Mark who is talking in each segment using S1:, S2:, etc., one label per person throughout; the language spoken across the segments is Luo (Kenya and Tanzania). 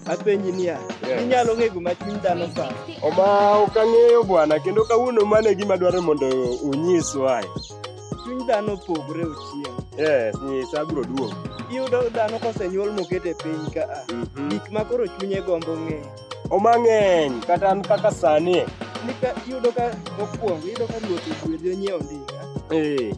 S1: apenji niya Yes. inyalo ng'e gima chuny dhano paro Oma ok ang'eyo bwana kendo kawuono mano e gima dwarore mondo unyiswae. chuny dhano opogore ochien Yes, nyisa abiro duogo. iyudo dhano kosenyuol moket e piny ka a Mhm. gik ma koro chunye gombo ng'eyo Oma ng'eny kata an kaka sani. nika iyudo ka mokwongo iyudo ka ruoth ogwedhi onyiewo ndiga Eh,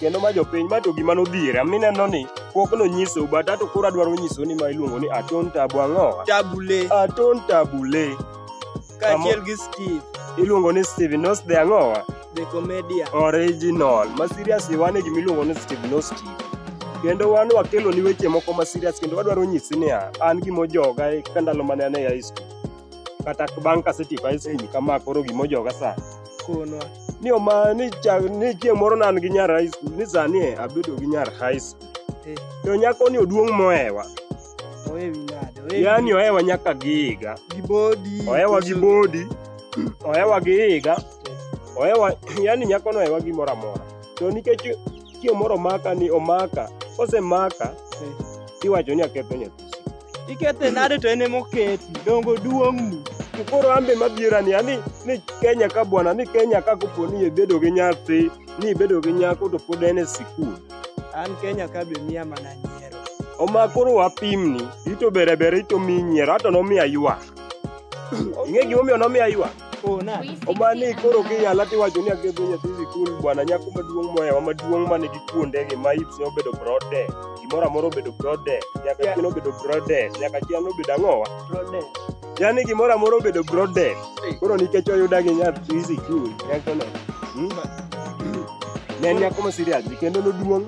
S1: kendo ma jopiny ma to gima nodhiera mineno ni pok nonyisou but ato koro adwaro nyisou ni ma iluongo ni aton tabu ang'owa tabule aton tabule kaachiel gi steve iluongo ni steve nos the ang'owa the comedia original ma serious wan e gima iluongo ni steve no steve kendo wan wakelo ni weche moko ma serious kendo wadwaro nyisi niya an gimojoga e- ka ndalo mane an e high school kata bang' kasetieko high school kama koro gimojoga sani konwa ni oma ni chak ni chieng' moro nan gi nyar high school ni sani e abedo gi nyar high school Eh. to nyako ni oduong' mohewa oe wi nade oe wi- yani ohewa nyaka gi higa gi bodi ohewa gi koso- bodi ohewa gi higa ohewa yani nyako no ohewa gimoro amora to nikech chieng' moro omaka ni omaka kosemaka Eh. iwacho ni aketho nyathi Ikete nade to en emoketi, dongo duong'ni. To koro an be mabiro ni ani ni Kenya ka bwana ni Kenya ka kopo ni ibedo gi nyathi ni ibedo gi nyako to pod en e sikul. An Kenya ka be miya mana nyiero. Oma koro wapimni ito bere bere ito mi nyiero ato nomiya ywak. Ing'e gimomiyo nomiya ywak? Ona. Omani koro kiyala tiwacho ni akedho nyathi sikul bwana nyako maduong' mohewa maduong' ma nigi kuondege ma ipse obedo brode. Gimoro amora obedo brode. Nyaka Yeah. chien obedo brode. Nyaka chien obedo ang'owa. Brode. Yaani gimoro amora obedo brode. Koro nikech oyuda gi nyathi sikul. Nyakono. Hmm? Ne en nyako ma serious kendo noduong'.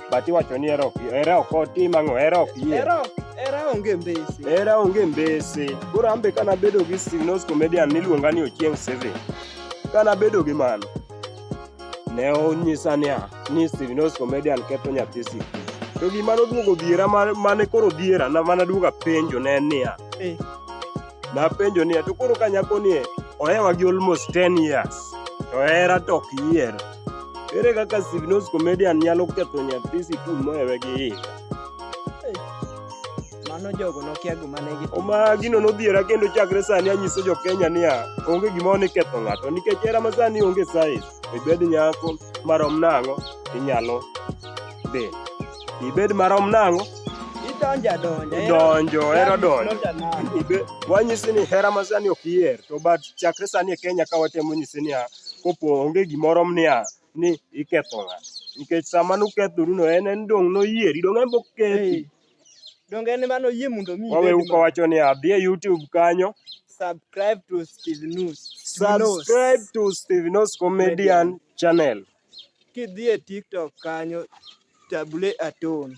S1: but iwacho ni hera ok hera ok otim ang'o hera ok yie Era ok- era onge mbese. hera onge mbese koro ambe kana bedo gi signos comedian niluonga ni ochieng seven kana bedo gi mano ne onyisa niya ni signos comedian ketho nyathi sik to gima noduogo dhiera ma- mane koro dhiera na mana duoga penjo ne en niya Eh. napenjo niya to koro ka nyako nie ohewa gi almost 10 years to hera to ok yier Ere kaka Sivnos Comedian nyalo ketho nyathi sikul mohewe gi higa? Mano jogo nokia gima ne gitimo. Oma gino nodhiera kendo chakre sani anyiso jo Kenya niya, onge gima oni ketho ng'ato nikech era ma sani onge size. Ibed nyako marom nang'o inyalo dhi. Ibed marom nang'o Idonjo adonja. idonjo ero donjo. Ibe- wanyisi ni hera ma sani ok iher to but chakre sani e Kenya ka watemo nyisi niya kopo onge gimoro mnia ni iketho ng'a nikech sama nukethoru no en en dong' noyieri dong' en bokethi donge en mano yie mondo mi wawe uko wacho ni adhi e YouTube kanyo subscribe to Steve News subscribe to Steve News comedian channel kidhi e TikTok kanyo tabule atone